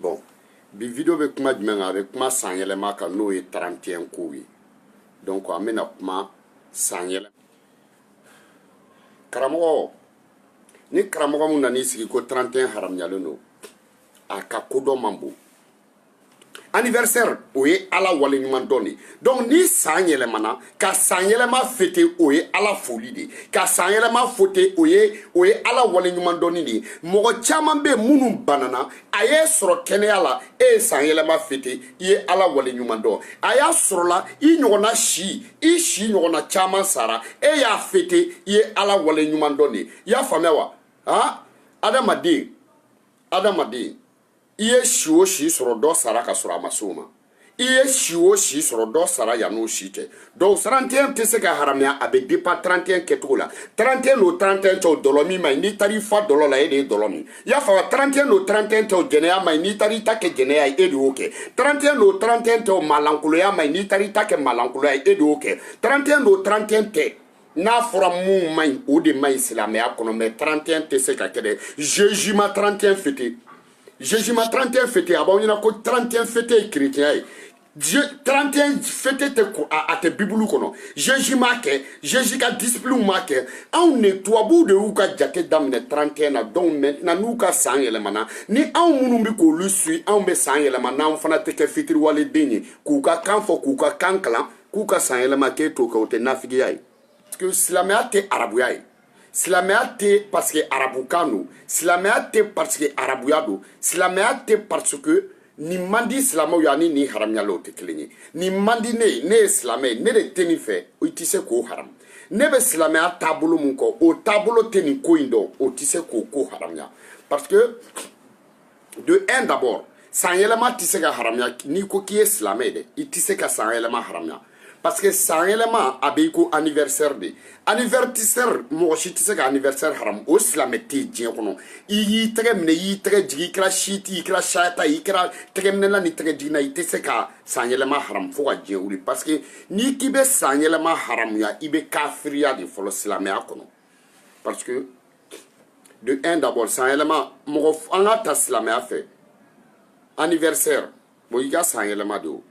Bon, bi video bɛ kuma jumɛn kan a bɛ kuma san yɛlɛma kan n'o ye 31 kow ye donc an bɛna kuma san yɛlɛma karamɔgɔ ni karamɔgɔ min nan'i sigi ko 31 haramuyalen don a ka kodɔn man bon anniversaire o ye ala waleɲuman dɔn de donc ni san yɛlɛmana ka san yɛlɛma fete o ye ala foli de ka san yɛlɛma fete o ye o ye ala waleɲuman dɔnni de ye mɔgɔ caman bɛ minnu banana a y'e sɔrɔ kɛnɛya la e ye san yɛlɛma fete i ye ala waleɲuman dɔn a y'a sɔrɔla i ɲɔgɔnna si i si ɲɔgɔnna caman sara e y'a fete i ye ala waleɲuman dɔn de ye i y'a faamuya wa ah adamaden adamaden i ye si o si sɔrɔ dɔ sara ka sɔrɔ a ma s'o ma i ye si o si sɔrɔ dɔ sara yan'o si tɛ donc 31 tɛ se ka haramuya a bɛ dépend 31 kɛcogo la 31 n'o 31 tɛ o dɔlɔmin man ɲi n'i taara i fa dɔlɔ la e de ye dɔlɔ min i y'a faamu 31 n'o 31 tɛ o jɛnɛya man ɲi n'i taara i ta kɛ jɛnɛya ye e de y'o kɛ 31 n'o 31 tɛ o maalankoloya man ɲi n'i taara i ta kɛ maalankoloya ye e de y'o kɛ 31 n'o 31 tɛ n'a fɔra min man ɲi o de man ɲi silamɛya kɔnɔ mais 31 tɛ se ka kɛ dɛ Jésus ma 31 fete Jésus ma 31 fete a b'aw ɲɛna ko 31 fete ye kerecɛnya ye Dieu 31 fete tɛ ko a tɛ bibulu kɔnɔ Jésus m'a kɛ Jésus ka disciples m'a kɛ anw ne tubabuw de y'u ka jate daminɛ 31 na donc maintenant n'u ka san yɛlɛmana ni anw minnu bɛ k'olu suit anw bɛ san yɛlɛma n'anw fana tɛ kɛ fitiriwaleden ye k'u ka kan fɔ k'u ka kan kalan k'u ka san yɛlɛma k'e t'o kɛ o tɛ nafigiya ye silamɛya tɛ arabuya ye silamɛya tɛ parce que arabukan don silamɛya tɛ parce que arabuya don silamɛya tɛ parce que nin man di silamɛw ye ani nin haramuyalen o tɛ kelen ye nin man di ne ye ne ye silamɛ ye ne de tɛ nin fɛ i tɛ se k'o haram ne bɛ silamɛya taabolo min kɔ o taabolo tɛ nin ko in dɔn o tɛ se k'o ko haramuya parce que de un d'abord san yɛlɛma tɛ se ka haramuya n'i ko k'i ye silamɛ ye dɛ i tɛ se ka san yɛlɛma haramuya parce que san yɛlɛma a bɛ i ko anniversaire de anniversaire mɔgɔ si tɛ se ka anniversaire haramu o silamɛ tɛ yen diɲɛ kɔnɔ i y'i tɛgɛ minɛ i y'i tɛgɛ jigin i kɛra siti i kɛra sayata i kɛra tɛgɛminɛla ni tɛgɛ jiginna i tɛ se ka san yɛlɛma haramu fo ka diɲɛ wuli parce que n'i k'i bɛ san yɛlɛma haramuya i bɛ kafiriya de fɔlɔ silamɛya kɔnɔ parce que de un d'abord san yɛlɛma mɔgɔ an ka ta silamɛya fɛ anniversaire bon i ka san yɛlɛma de o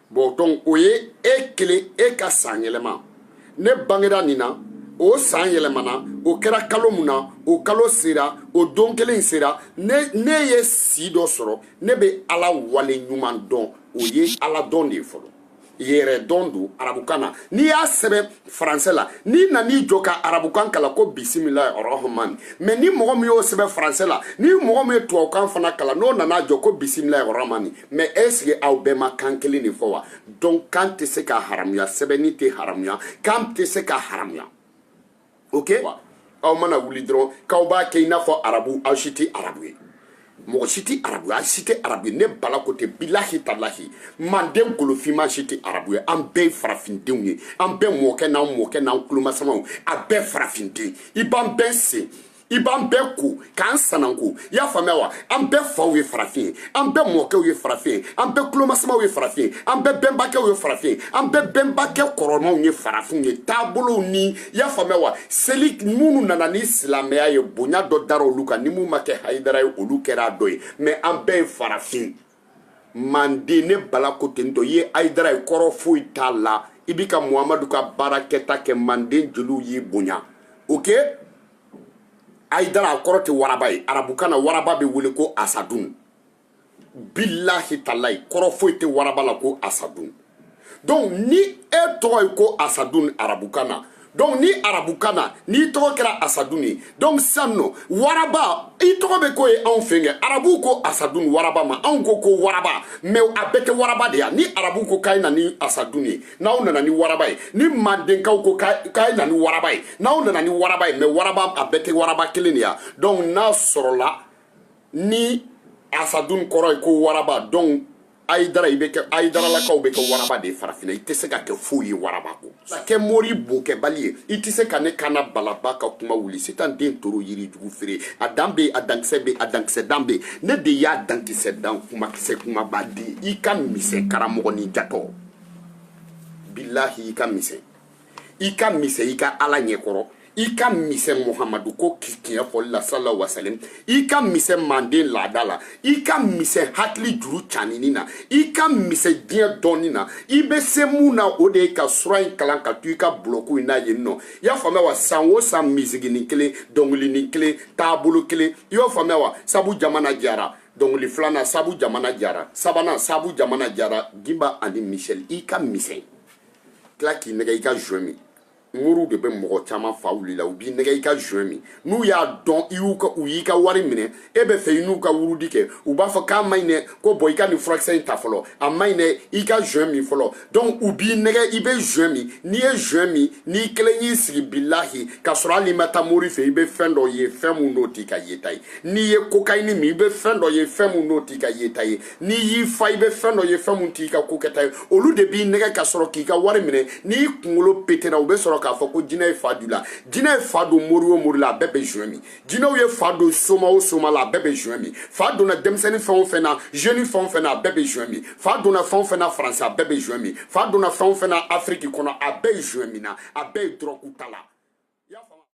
bon donc o ye e kelen e ka san yɛlɛma ne bangera nin na o san yɛlɛmana o kɛra kalo mun na o kalo sera o don kelen sera ne ne ye si dɔ sɔrɔ ne bɛ ala wale ɲuman dɔn o ye ala dɔn de ye fɔlɔ yɛrɛ dɔn don arabukan na n'i y'a sɛbɛn faransɛ la n'i nan'i jɔ ka arabukan kalan ko bisimila rahmani mais ni mɔgɔ min y'o sɛbɛn faransɛ la ni mɔgɔ min ye tubabukan fana kalan n'o nana jɔ ko bisimila rahmani mais est-ce que aw bɛɛ ma kan kelen de fɔ wa donc kan tɛ se ka haramuya sɛbɛnni tɛ haramuya kan tɛ se ka haramuya ok aw mana wuli dɔrɔn k'aw b'a kɛ i n'a fɔ arabu aw si tɛ arabu ye mɔgɔ si tɛ arabu ye aw si tɛ arabu ye ne bala ko ten bilahi talahi manden golofinma si tɛ arabu ye an bɛɛ ye farafindenw ye an bɛɛ mɔkɛ n'an mɔkɛ n'an kulomasamaw a bɛɛ farafinden i b'an bɛɛ sen i b'an bɛɛ ko k'an sananko i y'a faamuya wa an bɛɛ faw ye farafin ye an bɛɛ mɔkɛw ye farafin ye an bɛɛ kulomasamaw ye farafin ye an bɛɛ bɛnbakɛw ye farafin ye an bɛɛ bɛnbakɛ kɔrɔmaw ye farafinw ye taabolow ni i y'a faamuya wa seli minnu nana ni silamɛya ye bonya dɔ dara olu kan ni mun ma kɛ hayidara ye olu kɛra a dɔ ye mais an bɛɛ ye farafin manden ne bala ko ten tɔ i ye ayidara ye kɔrɔ foyi t'a la i bi ka muhamadu ka baara kɛta kɛ manden jeliw y'i bonya ok ayidara a kɔrɔ tɛ waraba ye arabukan na waraba bɛ wele ko asadun bilahi talayi kɔrɔ foyi tɛ waraba la ko asadun donc ni e tɔgɔ ye ko asadun arabukan na donc ni arabukan na n'i tɔgɔ kɛra asadun ye donc sisan nɔ waraba i tɔgɔ bɛ ko ye anw fɛ kɛ arabuw ko asadun waraba ma anw ko ko waraba mais a bɛɛ tɛ waraba de ye ni arabuw ko k'a ye na ni asadun ye n'aw nana ni waraba ye ni mandenkaw ko k'a ye na ni waraba ye n'aw nana ni waraba ye mais waraba a bɛɛ tɛ waraba kelen de ye donc n'a sɔrɔla ni asadun kɔrɔ ye ko waraba donc ayidara i bɛ kɛ ayidaralakaw bɛ kɛ waraba de ye farafinna i tɛ se ka kɛ foyi ye waraba kɔ kɛ mori bokɛbali ye i tɛ se ka ne kana balaba ka kuma wuli sitan den toro yiri jugu feere a dan bɛ a dankisɛ bɛ a dankisɛ dan bɛ ne de y'a dankisɛ dan kumakisɛ kumaba di i ka misɛn karamɔgɔnin jatɔ bilahi i ka misɛn i ka misɛn i ka ala ɲɛkɔrɔ i ka misɛn muhamadu ko tiɲɛ fɔli la sala wasalim i ka misɛn manden laada la i ka misɛn hakili juru canini na i ka misɛn diɲɛ dɔnni na i bɛ se mun na o de ye ka sura in kalan ka to i ka bulɔku in na yen nɔ i y'a faamuya wa san o san misiginin kelen dɔnkilinin kelen taabolo kelen i y'o faamuya wa sabu jamana jara dɔnkili filanan sabu jamana jara sabanan sabu jamana jara gimba ani misɛli i ka misɛn tila k'i nɛgɛ i ka joint min moriw de bɛ mɔgɔ caman fa wuli la u b'i nɛgɛ i ka joint min n'u y'a dɔn i y'u ka u y'i ka wari minɛ e bɛ fɛ i n'u ka wurudi kɛ u b'a fɔ k'a man ɲi dɛ ko bon i ka nin furakisɛ in ta fɔlɔ a man ɲi dɛ i ka joint min fɔlɔ donc u b'i nɛgɛ i bɛ joint min n'i ye joint min n'i kelen y'i sigi bilahi k'a sɔrɔ hali n'i ma taa mori fɛ i bɛ fɛn dɔ ye fɛn min n'o t'i ka yeta ye n'i ye kokayini min i bɛ fɛn dɔ ye fɛn min n'o t'i ka yeta ye n'i y'i fa i bɛ fɛn dɔ ye fɛn min t'i ka ko kɛta ye olu de b'i nɛgɛ ka sɔrɔ k'i ka wari minɛ n'i kunkolo pétera u bɛ sɔrɔ k'a fɔ ko jinɛ ye fa don i la jinɛ ye fa don mori o mori la a bɛɛ bɛ joint min jinɛw ye fa don soma o soma la a bɛɛ bɛ joint min fa donna denmisɛnnin fɛn o fɛn na jeune fɛn o fɛn na a bɛɛ bɛ joint min fa donna fɛn o fɛn na faransi a bɛɛ bɛ joint min fa donna fɛn o fɛn na afiriki kɔnɔ a bɛɛ ye joint min na a bɛɛ ye dɔrɔku ta la